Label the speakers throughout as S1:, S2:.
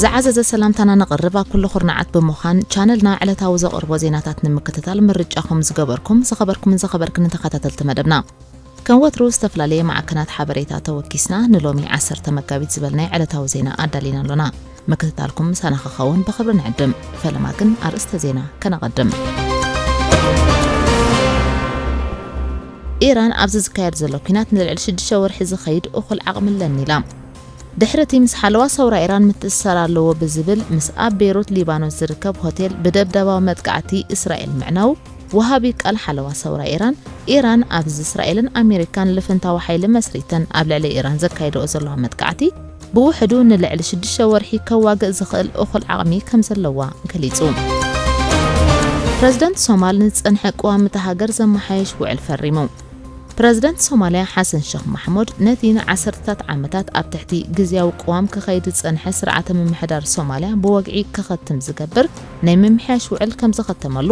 S1: ዝዓዘዘ ሰላምታና ነቕርብ ኣብ ኩሉ ኩርናዓት ብምዃን ቻነልና ዕለታዊ ዘቕርቦ ዜናታት ንምክትታል ምርጫኹም ዝገበርኩም ዝኸበርኩምን ዝኸበርክንን ተኸታተልቲ መደብና ከም ወትሩ ዝተፈላለየ ማዕከናት ሓበሬታ ተወኪስና ንሎሚ ዓሰርተ መጋቢት ዝበልናይ ዕለታዊ ዜና ኣዳሊና ኣሎና ምክትታልኩም ምሳና ክኸውን ብኽብሪ ንዕድም። ፈለማ ግን ኣርእስተ ዜና ከነቐድም። ኢራን ኣብዚ ዝካየድ ዘሎ ኲናት ንልዕሊ ሽዱሽተ ወርሒ ዝኸይድ እኹል ዓቕሚ ኣለኒ ኢላ ድሕሪ እቲ ምስ ሓለዋ ሰውራ ኢራን ምትእስሳር ኣለዎ ብዝብል ምስ ኣብ ቤይሩት ሊባኖስ ዝርከብ ሆቴል ብደብዳባዊ መጥቃዕቲ እስራኤል ምዕናው ወሃቢ ቃል ሓለዋ ሰውራ ኢራን ኢራን ኣብዚ እስራኤልን ኣሜሪካን ልፍንታዊ ሓይሊ መስሪተን ኣብ ልዕሊ ኢራን ዘካይደኦ ዘለዋ መጥቃዕቲ ብውሕዱ ንልዕሊ ሽዱሽተ ወርሒ ከዋግእ ዝኽእል እኹል ዓቕሚ ከምዘለዋ ገሊጹ። ፕረዚደንት ሶማል ንዝጸንሐ ቀዋሚ እታ ሃገር ዘመሓየሽ ውዕል ፈሪሙ። ፕረዚደንት ሶማልያ ሓሰን ሸኽ ማሕሙድ ነቲ ንዓሰርተታት ዓመታት ኣብ ትሕቲ ግዝያዊ ቅዋም ክኸይድ ዝጸንሐ ስርዓተ ምምሕዳር ሶማልያ ብወግዒ ክኸትም ዝገብር ናይ ምምሕያሽ ውዕል ከም ዘኸተመሉ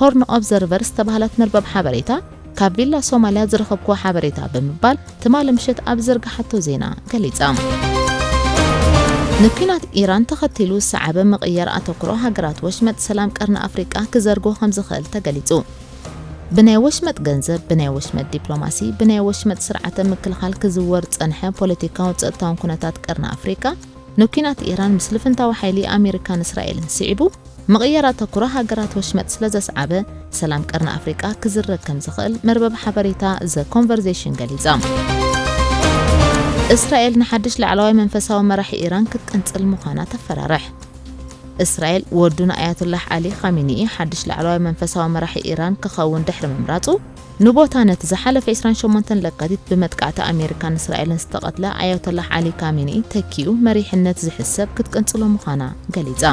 S1: ሆርን ኦብዘርቨር ዝተባህለት መርበብ ሓበሬታ ካብ ቪላ ሶማልያ ዝረኸብክዎ ሓበሬታ ብምባል ትማሊ ምሸት ኣብ ዝዘርግሓቶ ዜና ገሊጻ። ንኲናት ኢራን ተኸቲሉ ዝሰዓበ ምቕያር ኣተኩሮ ሃገራት ወሽመጥ ሰላም ቀርኒ ኣፍሪቃ ክዘርጎ ከም ዝኽእል ተገሊጹ። ብናይ ወሽመጥ ገንዘብ፣ ብናይ ወሽመጥ ዲፕሎማሲ፣ ብናይ ወሽመጥ ስርዓተ ምክልኻል ክዝወር ዝጸንሐ ፖለቲካውን ጸጥታውን ኩነታት ቀርኒ ኣፍሪቃ ንኲናት ኢራን ምስ ልፍንታዊ ሓይሊ ኣሜሪካን እስራኤልን ስዒቡ ምቕያር ኣተኩሮ ሃገራት ወሽመጥ ስለዘስዓበ፣ ሰላም ቀርኒ ኣፍሪቃ ክዝረግ ከምዝኽእል መርበብ ሓበሬታ The Conversation ገሊጻ። እስራኤል ንሓድሽ ላዕለዋይ መንፈሳዊ መራሒ ኢራን ክትቅንጽል ምዃና ተፈራርሕ። እስራኤል ወዱ ንኣያቱላህ ዓሊ ኻሚኒኢ ሓድሽ ላዕለዋይ መንፈሳዊ መራሒ ኢራን ክኸውን ድሕሪ ምምራጹ፣ ንቦታ ነቲ ዝሓለፈ ዕስራን ሸሞንተን ለካቲት ብመጥቃዕቲ ኣሜሪካን እስራኤልን ዝተቐትለ ኣያቶላህ ዓሊ ካሚኒኢ ተኪኡ መሪሕነት ዝሕዝ ሰብ ክትቅንጽሎ ምዃና ገሊጻ።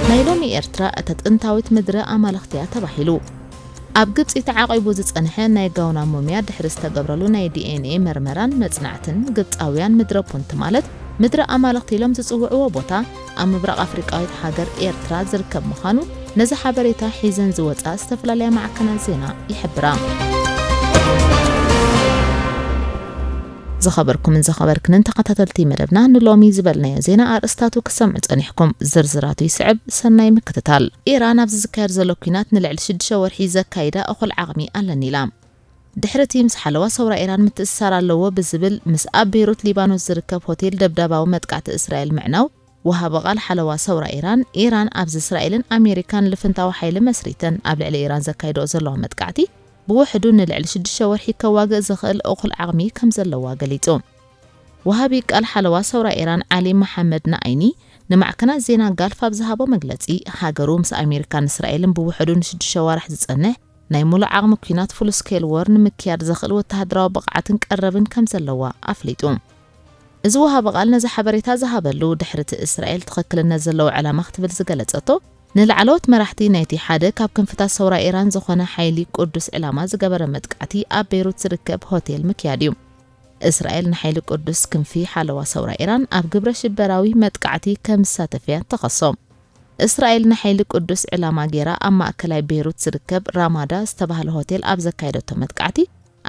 S1: ናይ ሎሚ ኤርትራ እታ ጥንታዊት ምድረ ኣማልኽቲ'ያ ተባሂሉ ኣብ ግብጺ ተዓቂቡ ዝጸንሐ ናይ ጋውና ሙምያ ድሕሪ ዝተገብረሉ ናይ ዲኤንኤ መርመራን መጽናዕትን ግብጻውያን ምድረ ፑንት ማለት ምድረ ኣማልኽቲ ኢሎም ዝጽውዕዎ ቦታ ኣብ ምብራቕ ኣፍሪቃዊት ሃገር ኤርትራ ዝርከብ ምዃኑ ነዚ ሓበሬታ ሒዘን ዝወጻ ዝተፈላለያ ማዕከናት ዜና ይሕብራ። ዝኸበርኩምን ዝኸበርክንን ተኸታተልቲ መደብና ንሎሚ ዝበልናዮ ዜና ኣርእስታቱ ክሰምዑ ጸኒሕኩም ዝርዝራቱ ይስዕብ ሰናይ ምክትታል ኢራን ኣብዚ ዝካየድ ዘሎ ኩናት ንልዕሊ ሽዱሽተ ወርሒ ዘካይዳ እኹል ዓቕሚ ኣለኒ ኢላ ድሕሪ እቲ ምስ ሓለዋ ሰውራ ኢራን ምትእስሳር ኣለዎ ብዝብል ምስ ኣብ ቤይሩት ሊባኖስ ዝርከብ ሆቴል ደብዳባዊ መጥቃዕቲ እስራኤል ምዕናው፣ ወሃቢ ቓል ሓለዋ ሰውራ ኢራን፣ ኢራን ኣብዚ እስራኤልን ኣሜሪካን ልፍንታዊ ሓይሊ መስሪተን ኣብ ልዕሊ ኢራን ዘካይድኦ ዘለዋ መጥቃዕቲ ብውሕዱ ንልዕሊ ሽዱሽተ ወርሒ ከዋግእ ዝኽእል እኹል ዓቕሚ ከም ዘለዋ ገሊጹ። ወሃቢ ቃል ሓለዋ ሰውራ ኢራን ዓሊ መሓመድ ናኣይኒ ንማዕከናት ዜና ጋልፍ ኣብ ዝሃቦ መግለጺ፣ ሃገሩ ምስ ኣሜሪካን እስራኤልን ብውሕዱ ንሽዱሽተ ኣዋርሕ ዝጸንሕ ናይ ሙሉእ ዓቕሚ ኲናት፣ Full Scale War፣ ንምክያድ ዘኽእል ወተሃደራዊ ብቕዓትን ቀረብን ከም ዘለዋ ኣፍሊጡ። እዚ ወሃቢ ቓል ነዚ ሓበሬታ ዝሃበሉ፣ ድሕሪ'ቲ እስራኤል ትኽክልነት ዘለዎ ዕላማ ክትብል ዝገለጸቶ፣ ንላዕለዎት መራሕቲ ናይቲ ሓደ ካብ ክንፍታት ሰውራ ኢራን ዝኾነ ሓይሊ ቁድስ ዕላማ ዝገበረ መጥቃዕቲ ኣብ ቤይሩት ዝርከብ ሆቴል ምክያድ'ዩ። እስራኤል ንሓይሊ ቁድስ ክንፊ ሓለዋ ሰውራ ኢራን ኣብ ግብረ-ሽበራዊ መጥቃዕቲ ከም ዝሳተፍ'ያ እትኸሶ። እስራኤል ንሓይሊ ቅዱስ ዕላማ ገይራ ኣብ ማእከላይ ቤይሩት ዝርከብ ራማዳ ዝተባህለ ሆቴል ኣብ ዘካየደቶ መጥቃዕቲ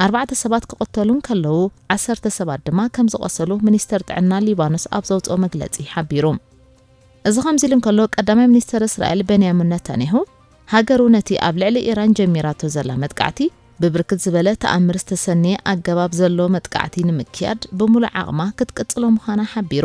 S1: ኣርባዕተ ሰባት ክቕተሉ እንከለዉ ዓሰርተ ሰባት ድማ ከም ዝቖሰሉ ሚኒስተር ጥዕና ሊባኖስ ኣብ ዘውጽኦ መግለጺ ሓቢሩ። እዚ ከምዚ ኢሉ እንከሎ ቀዳማይ ሚኒስተር እስራኤል በንያሚን ነታንያሁ ሃገሩ ነቲ ኣብ ልዕሊ ኢራን ጀሚራቶ ዘላ መጥቃዕቲ ብብርክት ዝበለ ተኣምር ዝተሰነየ ኣገባብ ዘለዎ መጥቃዕቲ ንምክያድ ብምሉእ ዓቕማ ክትቅጽሎ ምዃና ሓቢሩ።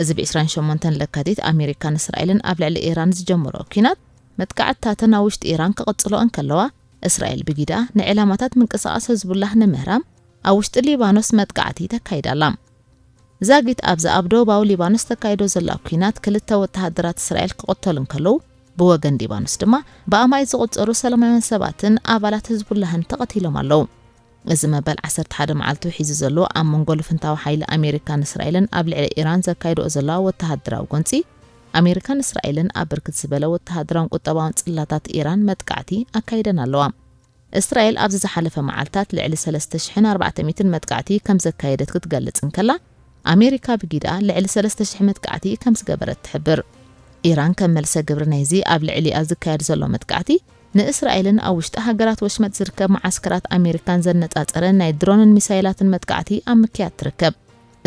S1: እዚ ብ ዕስራን ሸሞንተን ለካቲት ኣሜሪካን እስራኤልን ኣብ ልዕሊ ኢራን ዝጀመርኦ ኲናት፣ መጥቃዕትታተን ኣብ ውሽጢ ኢራን ክቕጽሎ እንከለዋ፣ እስራኤል ብጊዳ ንዕላማታት ምንቅስቓስ ህዝቡላህ ንምህራም ኣብ ውሽጢ ሊባኖስ መጥቃዕቲ ተካይድ ኣላ። ዛጊት ኣብዛ ኣብ ደቡባዊ ሊባኖስ ተካይዶ ዘላ ኲናት ክልተ ወተሃደራት እስራኤል ክቕተሉ እንከለዉ፣ ብወገን ሊባኖስ ድማ ብኣማኢት ዝቑጸሩ ሰላማውያን ሰባትን ኣባላት ህዝቡላህን ተቐቲሎም ኣለዉ። እዚ መበል ዓሰርተ ሓደ መዓልቱ ሒዙ ዘሎ ኣብ መንጎ ልፍንታዊ ሓይሊ ኣሜሪካን እስራኤልን ኣብ ልዕሊ ኢራን ዘካይድኦ ዘለዋ ወተሃደራዊ ጎንጺ፣ ኣሜሪካን እስራኤልን ኣብ ብርክት ዝበለ ወተሃደራውን ቁጠባውን ጽላታት ኢራን መጥቃዕቲ ኣካይደን ኣለዋ። እስራኤል ኣብዚ ዝሓለፈ መዓልታት ልዕሊ ሰለስተ ሽሕን ኣርባዕተ ሚእትን መጥቃዕቲ ከም ዘካየደት ክትገልጽ እንከላ፣ ኣሜሪካ ብጊዳ ልዕሊ ሰለስተ ሽሕ መጥቃዕቲ ከም ዝገበረት ትሕብር። ኢራን ከም መልሰ ግብሪ ናይዚ ኣብ ልዕሊኣ ዝካየድ ዘሎ መጥቃዕቲ፣ ንእስራኤልን ኣብ ውሽጢ ሃገራት ወሽመጥ ዝርከብ መዓስከራት ኣሜሪካን ዘነጻጸረ ናይ ድሮንን ሚሳይላትን መጥቃዕቲ ኣብ ምክያድ ትርከብ።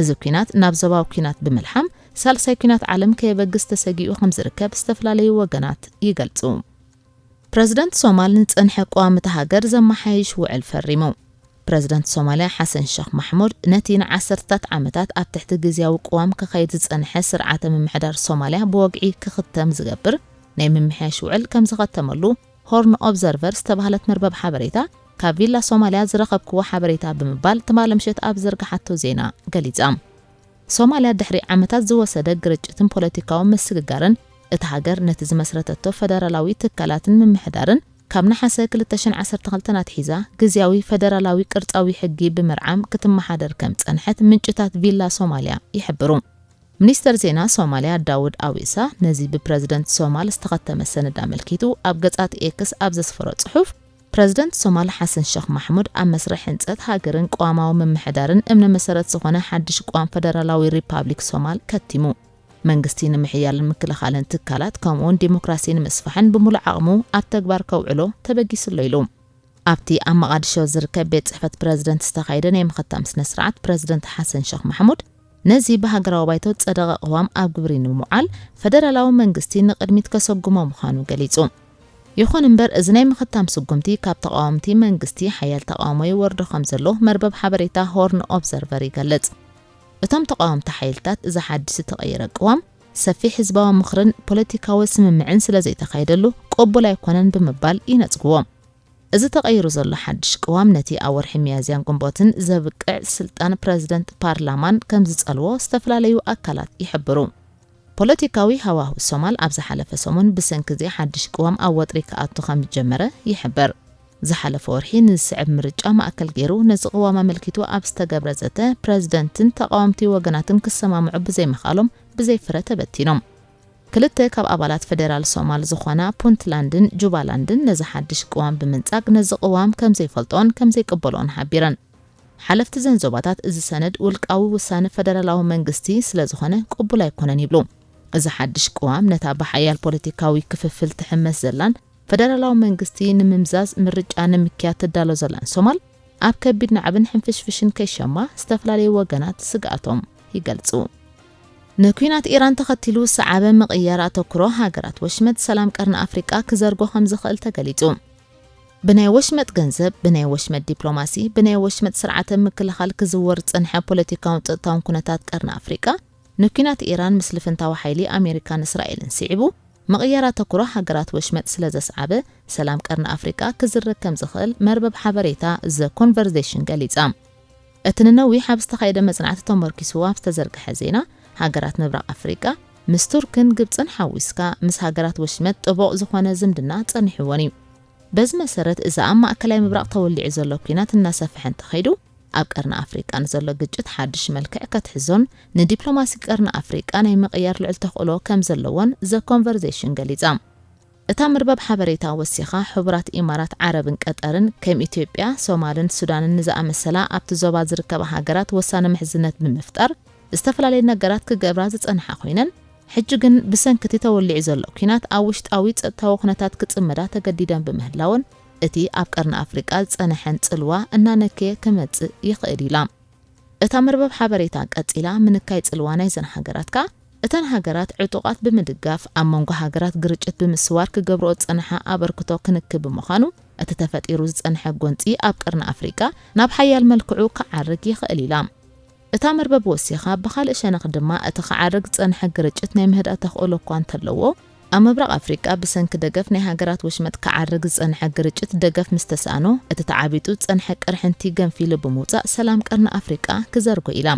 S1: እዚ ኲናት ናብ ዞባዊ ኲናት ብምልሓም ሳልሳይ ኲናት ዓለም ከየበግስ ተሰጊኡ ከምዝርከብ ዝተፈላለዩ ወገናት ይገልጹ። ፕረዚደንት ሶማል ንዝጸንሐ ቀዋሚ እታ ሃገር ዘመሓይሽ ውዕል ፈሪሙ። ፕረዚደንት ሶማልያ ሓሰን ሸኽ ማሕሙድ ነቲ ንዓሰርተታት ዓመታት ኣብ ትሕቲ ግዝያዊ ቅዋም ክኸይድ ዝጸንሐ ስርዓተ ምምሕዳር ሶማልያ ብወግዒ ክኽተም ዝገብር ናይ ምምሕያሽ ውዕል ከም ዘኸተመሉ ሆርን ኦብዘርቨር ዝተባህለት መርበብ ሓበሬታ ካብ ቪላ ሶማልያ ዝረኸብክዎ ሓበሬታ ብምባል ትማሊ ምሸት ኣብ ዝዘርግሓቶ ዜና ገሊጻ። ሶማልያ ድሕሪ ዓመታት ዝወሰደ ግርጭትን ፖለቲካዊ ምስግጋርን፣ እታ ሃገር ነቲ ዝመስረተቶ ፈደራላዊ ትካላትን ምምሕዳርን ካብ ነሓሰ ክልተ ሽሕን ዓሰርተ ክልተን ኣትሒዛ ግዝያዊ ፈደራላዊ ቅርጻዊ ሕጊ ብምርዓም ክትመሓደር ከም ዝጸንሐት ምንጭታት ቪላ ሶማልያ ይሕብሩ። ሚኒስተር ዜና ሶማልያ ዳውድ ኣዊሳ ነዚ ብፕረዚደንት ሶማል ዝተኸተመ ሰነድ ኣመልኪቱ ኣብ ገጻት ኤክስ ኣብ ዘስፈሮ ጽሑፍ፣ ፕረዚደንት ሶማል ሓሰን ሸኽ ማሕሙድ ኣብ መስርሕ ህንፀት ሃገርን ቅዋማዊ ምምሕዳርን እምነ መሰረት ዝኾነ ሓድሽ ቅዋም ፈደራላዊ ሪፓብሊክ ሶማል ከቲሙ። መንግስቲ ንምሕያልን ምክልኻልን ትካላት ከምኡ እውን ዴሞክራሲ ንምስፋሕን ብምሉእ ዓቕሙ ኣብ ተግባር ከውዕሎ ተበጊሱ ኣሎ ኢሉ። ኣብቲ ኣብ መቓድሾ ዝርከብ ቤት ፅሕፈት ፕረዚደንት ዝተኻየደ ናይ ምኽታም ስነ ስርዓት ፕረዚደንት ሓሰን ሸኽ ማሕሙድ፣ ነዚ ብሃገራዊ ባይቶ ዝጸደቐ ቅዋም ኣብ ግብሪ ንምውዓል ፈደራላዊ መንግስቲ ንቕድሚት ከሰጉሞ ምዃኑ ገሊጹ። ይኹን እምበር እዚ ናይ ምኽታም ስጉምቲ ካብ ተቓወምቲ መንግስቲ ሓያል ተቓውሞ ይወርዶ ከምዘሎ መርበብ ሓበሬታ ሆርን ኦብዘርቨር ይገልጽ። እቶም ተቓወምቲ ሓይልታት እዚ ሓድሽ ዝተቐየረ ቅዋም ሰፊሕ ህዝባዊ ምኽርን ፖለቲካዊ ስምምዕን ስለዘይተኻየደሉ ቅቡል ኣይኮነን ብምባል ይነጽግዎ። እዚ ተቐይሩ ዘሎ ሓድሽ ቅዋም ነቲ ኣብ ወርሒ ሚያዝያን ግንቦትን ዘብቅዕ ስልጣን ፕረዚደንት ፓርላማን ከም ዝጸልዎ ዝተፈላለዩ ኣካላት ይሕብሩ። ፖለቲካዊ ሃዋሁ ሶማል ኣብ ዝሓለፈ ሰሙን ብሰንኪ እዚ ሓድሽ ቅዋም ኣብ ወጥሪ ክኣቱ ከም ዝጀመረ ይሕበር። ዝሓለፈ ወርሒ ንዝስዕብ ምርጫ ማእከል ገይሩ ነዚ ቅዋም ኣመልኪቱ ኣብ ዝተገብረ ዘተ፣ ፕረዚደንትን ተቓወምቲ ወገናትን ክሰማምዑ ብዘይምኽኣሎም ብዘይ ፍረ ተበቲኖም። ክልተ ካብ ኣባላት ፈደራል ሶማል ዝኾና ፑንትላንድን ጁባላንድን ነዚ ሓድሽ ቅዋም ብምንጻግ ነዚ ቅዋም ከም ዘይፈልጥኦን ከም ዘይቅበልኦን ሓቢረን። ሓለፍቲ እዘን ዞባታት እዚ ሰነድ ውልቃዊ ውሳነ ፈደራላዊ መንግስቲ ስለ ዝኾነ ቅቡል ኣይኮነን ይብሉ። እዚ ሓድሽ ቅዋም ነታ ብሓያል ፖለቲካዊ ክፍፍል ትሕመስ ዘላን ፈደራላዊ መንግስቲ ንምምዛዝ ምርጫ ንምክያድ ትዳሎ ዘላን ሶማል ኣብ ከቢድ ናዕብን ሕንፍሽፍሽን ከይሸማ ዝተፈላለዩ ወገናት ስግኣቶም ይገልጹ። ንኲናት ኢራን ተኸቲሉ ዝሰዓበ ምቕያር ኣተኩሮ ሃገራት ወሽመጥ ሰላም ቀርኒ ኣፍሪቃ ክዘርጎ ከምዝኽእል ተገሊጹ። ብናይ ወሽመጥ ገንዘብ፣ ብናይ ወሽመጥ ዲፕሎማሲ፣ ብናይ ወሽመጥ ስርዓተ ምክልኻል ክዝወር ዝጸንሐ ፖለቲካውን ጸጥታውን ኩነታት ቀርኒ ኣፍሪቃ ንኲናት ኢራን ምስ ልፍንታዊ ሓይሊ ኣሜሪካን እስራኤልን ስዒቡ ምቕያር ኣተኩሮ ሃገራት ወሽመጥ ስለዘስዓበ ሰላም ቀርኒ ኣፍሪቃ ክዝረግ ከምዝኽእል መርበብ ሓበሬታ ዘ ኮንቨርዜሽን ገሊጻ። እቲ ንነዊሕ ኣብ ዝተኻየደ መጽናዕቲ ተመርኲሱ ኣብ ዝተዘርግሐ ዜና፣ ሃገራት ምብራቕ ኣፍሪቃ፣ ምስ ቱርክን ግብጽን ሓዊስካ፣ ምስ ሃገራት ወሽመጥ ጥቡቕ ዝኾነ ዝምድና ጸኒሑወን እዩ። በዚ መሰረት፣ እዚ ኣብ ማእከላይ ምብራቕ ተወሊዑ ዘሎ ኲናት እናሰፍሐ እንተኸይዱ፣ ኣብ ቀርኒ ኣፍሪቃ ንዘሎ ግጭት ሓድሽ መልክዕ ከትሕዞን ንዲፕሎማሲ ቀርኒ ኣፍሪቃ ናይ ምቕያር ልዑል ተኽእሎ ከምዘለዎን The Conversation ገሊጻ። እታ መርበብ ሓበሬታ ወሲኻ፣ ሕቡራት ኢማራት ዓረብን ቀጠርን፣ ከም ኢትዮጵያ፣ ሶማልን ሱዳንን ንዝኣመሰላ ኣብቲ ዞባ ዝርከባ ሃገራት ወሳኒ ምሕዝነት ብምፍጣር ዝተፈላለየ ነገራት ክገብራ ዝጸንሓ ኰይነን፣ ሕጂ ግን ብሰንኪ'ቲ ተወሊዑ ዘሎ ኲናት ኣብ ውሽጣዊ ጸጥታዊ ኵነታት ክጽመዳ ተገዲደን ብምህላወን እቲ ኣብ ቀርኒ ኣፍሪቃ ዝጸነሐን ጽልዋ እናነከየ ክመጽእ ይኽእል ኢላ። እታ መርበብ ሓበሬታ ቀጺላ፣ ምንካይ ጽልዋ ናይዘን ሃገራት ከኣ፣ እተን ሃገራት ዕጡቓት ብምድጋፍ ኣብ መንጎ ሃገራት ግርጭት ብምስዋር ክገብርኦ ዝጸንሓ ኣበርክቶ ክንኪ ብምዃኑ፣ እቲ ተፈጢሩ ዝጸንሐ ጎንጺ ኣብ ቀርኒ ኣፍሪቃ ናብ ሓያል መልክዑ ክዓርግ ይኽእል ኢላ። እታ መርበብ ወሲኻ፣ ብኻልእ ሸነኽ ድማ፣ እቲ ክዓርግ ዝጸንሐ ግርጭት ናይ ምህዳእ ተኽእሎ እኳ እንተለዎ፣ ኣብ ምብራቕ ኣፍሪቃ ብሰንኪ ደገፍ ናይ ሃገራት ወሽመጥ ክዓርግ ዝጸንሐ ግርጭት ደገፍ ምስ ተሳእኖ፣ እቲ ተዓቢጡ ዝጸንሐ ቅርሕንቲ ገንፊሉ ብምውጻእ ሰላም ቀርኒ ኣፍሪቃ ክዘርጎ ኢላ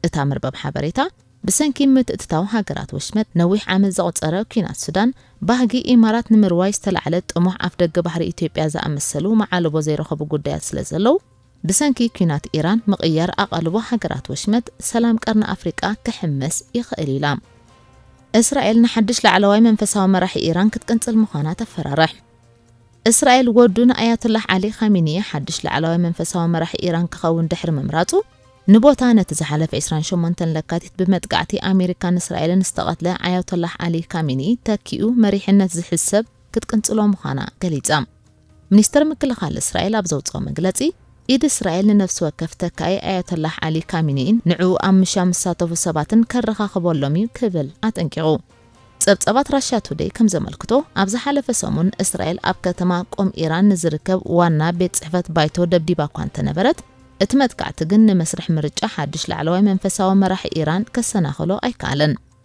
S1: እታ መርበብ ሓበሬታ። ብሰንኪ ምትእትታው ሃገራት ወሽመጥ ነዊሕ ዓመት ዘቑጸረ ኲናት ሱዳን፣ ባህጊ ኢማራት ንምርዋይ ዝተላዕለ ጥሙሕ ኣፍደገ ባሕሪ ኢትዮጵያ ዝኣመሰሉ መዓልቦ ዘይረኸቡ ጉዳያት ስለዘለዉ፣ ብሰንኪ ኲናት ኢራን ምቕያር ኣቓልቦ ሃገራት ወሽመጥ ሰላም ቀርኒ ኣፍሪቃ ክሕመስ ይኽእል ኢላ እስራኤል ንሓድሽ ላዕለዋይ መንፈሳዊ መራሒ ኢራን ክትቅንጽል ምዃና ተፈራርሕ። እስራኤል ወዱ ንኣያቱላህ ዓሊ ኻሚኒ ሓድሽ ላዕለዋይ መንፈሳዊ መራሒ ኢራን ክኸውን ድሕሪ ምምራጹ ንቦታ ነቲ ዝሓለፈ 28 ለካቲት ብመጥቃዕቲ ኣሜሪካን እስራኤልን ዝተቐትለ ኣያቶላህ ዓሊ ካሚኒ ተኪኡ መሪሕነት ዝሕዝ ሰብ ክትቅንጽሎ ምዃና ገሊጻ። ሚኒስተር ምክልኻል እስራኤል ኣብ ዘውጽኦ መግለጺ፣ ኢድ እስራኤል ንነፍሲ ወከፍ ተካኢ ኣያቶላህ ዓሊ ካሚኒኢን ንዕኡ ኣብ ምሻ ዝሳተፉ ሰባትን ከረኻኽበሎም'ዩ ክብል ኣጠንቂቑ። ጸብጻባት ራሽያ ቱደይ ከም ዘመልክቶ፣ ኣብ ዝሓለፈ ሰሙን እስራኤል ኣብ ከተማ ቁም ኢራን ንዝርከብ ዋና ቤት ጽሕፈት ባይቶ ደብዲባ'ኳ እንተነበረት፣ እቲ መጥቃዕቲ ግን ንመስርሕ ምርጫ ሓድሽ ላዕለዋይ መንፈሳዊ መራሒ ኢራን ከሰናኽሎ ኣይከኣለን።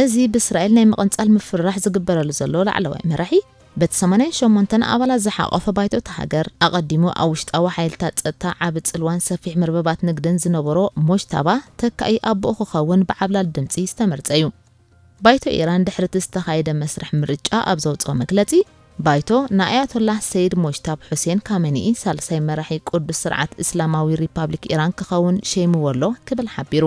S1: እዚ ብእስራኤል ናይ ምቕንጻል ምፍርራሕ ዝግበረሉ ዘሎ ላዕለዋይ መራሒ፣ በቲ ሰማንያን ሸሞንተን ኣባላት ዝሓቖፈ ባይቶ እታ ሃገር፣ ኣቐዲሙ ኣብ ውሽጣዊ ሓይልታት ጸጥታ ዓቢ ጽልዋን ሰፊሕ መርበባት ንግድን ዝነበሮ ሞጅታባ፣ ተካኢ ኣቦኡ ክኸውን ብዓብላሊ ድምጺ ዝተመርጸ'ዩ። ባይቶ ኢራን ድሕሪ'ቲ ዝተኻየደ መስርሕ ምርጫ ኣብ ዘውጽኦ መግለጺ፣ ባይቶ፣ ንኣያቶላህ ሰይድ ሞጅታብ ሑሴን ካመኒኢ ሳልሳይ መራሒ ቅዱስ ስርዓት እስላማዊ ሪፓብሊክ ኢራን ክኸውን ሸይሙዎ'ሎ ክብል ሓቢሩ።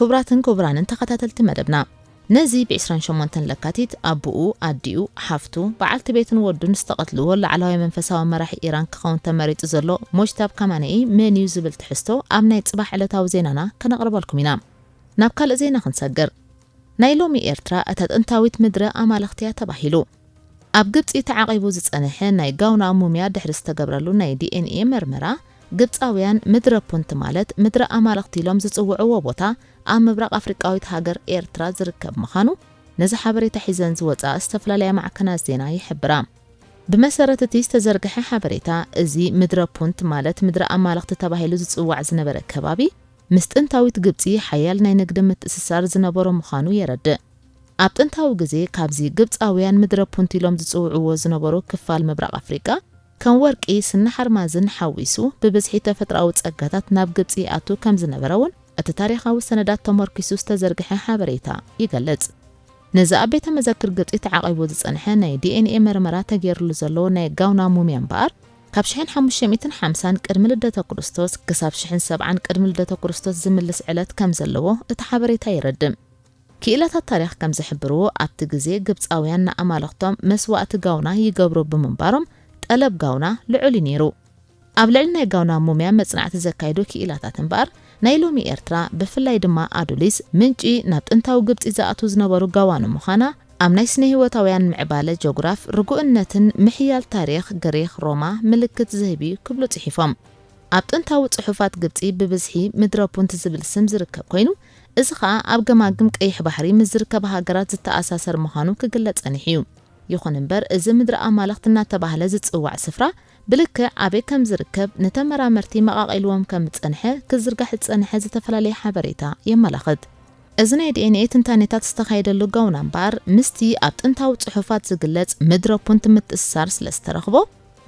S1: ክቡራትን ክቡራንን ተኸታተልቲ መደብና፣ ነዚ ብ ዕስራን ሸሞንተን ለካቲት ኣቡኡ፣ ኣዲኡ፣ ሓፍቱ፣ በዓልቲ ቤቱን ወዱን ዝተቐትልዎ ላዕላዋይ መንፈሳዊ መራሒ ኢራን ክኸውን ተመሪጹ ዘሎ ሞጅታብ ካማነኢ መን'ዩ ዝብል ትሕዝቶ ኣብ ናይ ጽባሕ ዕለታዊ ዜናና ከነቕርበልኩም ኢና። ናብ ካልእ ዜና ክንሰግር። ናይ ሎሚ ኤርትራ እታ ጥንታዊት ምድረ ኣማልኽቲ እያ ተባሂሉ። ኣብ ግብጺ ተዓቂቡ ዝጸንሐ ናይ ጋውና ሙምያ ድሕሪ ዝተገብረሉ ናይ ዲኤንኤ መርመራ፣ ግብጻውያን ምድረ ፑንት ማለት ምድረ ኣማልኽቲ ኢሎም ዝጽውዕዎ ቦታ ኣብ ምብራቕ ኣፍሪቃዊት ሃገር ኤርትራ ዝርከብ ምኻኑ ነዚ ሓበሬታ ሒዘን ዝወጻ ዝተፈላለያ ማዕከናት ዜና ይሕብራ። ብመሰረት እቲ ዝተዘርግሐ ሓበሬታ፣ እዚ ምድረ ፑንት ማለት ምድረ ኣማልኽቲ ተባሂሉ ዝጽዋዕ ዝነበረ ከባቢ፣ ምስ ጥንታዊት ግብጺ ሓያል ናይ ንግዲ ምትእስሳር ዝነበሮ ምዃኑ የረድእ። ኣብ ጥንታዊ ግዜ ካብዚ ግብጻውያን ምድረ ፑንት ኢሎም ዝጽውዕዎ ዝነበሩ ክፋል ምብራቕ ኣፍሪቃ ከም ወርቂ፣ ስኒ ሓርማዝን ሓዊሱ ብብዝሒ ተፈጥሮኣዊ ጸጋታት ናብ ግብጺ ይኣቱ ከም ዝነበረ እውን እቲ ታሪኻዊ ሰነዳት ተሞርኪሱ ዝተዘርግሐ ሓበሬታ ይገልጽ። ነዚ ኣብ ቤተ መዘክር ግብጺ ተዓቂቡ ዝጸንሐ ናይ ዲኤንኤ መርመራ ተገይርሉ ዘሎ ናይ ጋውና ሙምያ እምበኣር፣ ካብ ሽሕን ሓሙሽተ ሚእትን ሓምሳን ቅድሚ ልደተ ክርስቶስ ክሳብ ሽሕን ሰብዓን ቅድሚ ልደተ ክርስቶስ ዝምልስ ዕለት ከም ዘለዎ እቲ ሓበሬታ የረድእ። ክኢላታት ታሪኽ ከም ዝሕብርዎ ኣብቲ ግዜ ግብጻውያን ንኣማልኽቶም መስዋእቲ ጋውና ይገብሩ ብምንባሮም ጠለብ ጋውና ልዑል እዩ ነይሩ። ኣብ ልዕሊ ናይ ጋውና ሙምያ መጽናዕቲ ዘካይዱ ክኢላታት እምበኣር ናይ ሎሚ ኤርትራ ብፍላይ ድማ ኣዱሊስ ምንጪ ናብ ጥንታዊ ግብጺ ዝኣትዉ ዝነበሩ ጋዋኑ ምዃና ኣብ ናይ ስነ-ህይወታውያን ምዕባለ ጆግራፍ ርጉእነትን ምሕያል ታሪኽ ግሪኽ ሮማ ምልክት ዝህብ'ዩ ክብሉ ጽሒፎም። ኣብ ጥንታዊ ጽሑፋት ግብጺ ብብዝሒ ምድረ ፑንት ዝብል ስም ዝርከብ ኮይኑ፣ እዚ ኸኣ ኣብ ገማግም ቀይሕ ባሕሪ ምስ ዝርከባ ሃገራት ዝተኣሳሰር ምዃኑ ክግለጽ ጸኒሑ'ዩ። ይኹን እምበር እዚ ምድረ ኣማልኽቲ እናተባህለ ዝጽዋዕ ስፍራ፣ ብልክዕ ኣበይ ከም ዝርከብ ንተመራመርቲ መቓቒልዎም ከም ዝጸንሐ ክዝርጋሕ ዝጸንሐ ዝተፈላለየ ሓበሬታ የመላኽት። እዚ ናይ ዲኤንኤ ትንታኔታት ዝተኻየደሉ ጋውና እምበኣር ምስቲ ኣብ ጥንታዊ ጽሑፋት ዝግለጽ ምድረ ፑንት ምትእስሳር ስለ ዝተረኽቦ፣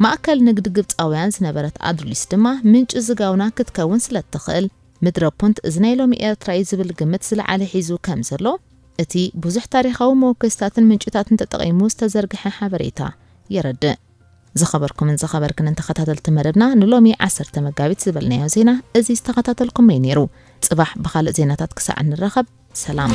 S1: ማእከል ንግዲ ግብጻውያን ዝነበረት ኣድርሊስ ድማ ምንጪ እዚ ጋውና ክትከውን ስለ እትኽእል፣ ምድረ ፑንት እዚ ናይ ሎሚ ኤርትራ እዩ ዝብል ግምት ዝለዓለ ሒዙ ከም ዘሎ እቲ ብዙሕ ታሪኻዊ መወከሲታትን ምንጭታትን ተጠቒሙ ዝተዘርግሐ ሓበሬታ የረድእ። ዝኸበርኩምን ዝኸበርክንን ተኸታተልቲ መደብና ንሎሚ ዓሰርተ መጋቢት ዝበልናዮ ዜና እዚ ዝተኸታተልኩሞ እዩ ነይሩ። ጽባሕ ብኻልእ ዜናታት ክሳዕ እንራኸብ ሰላም።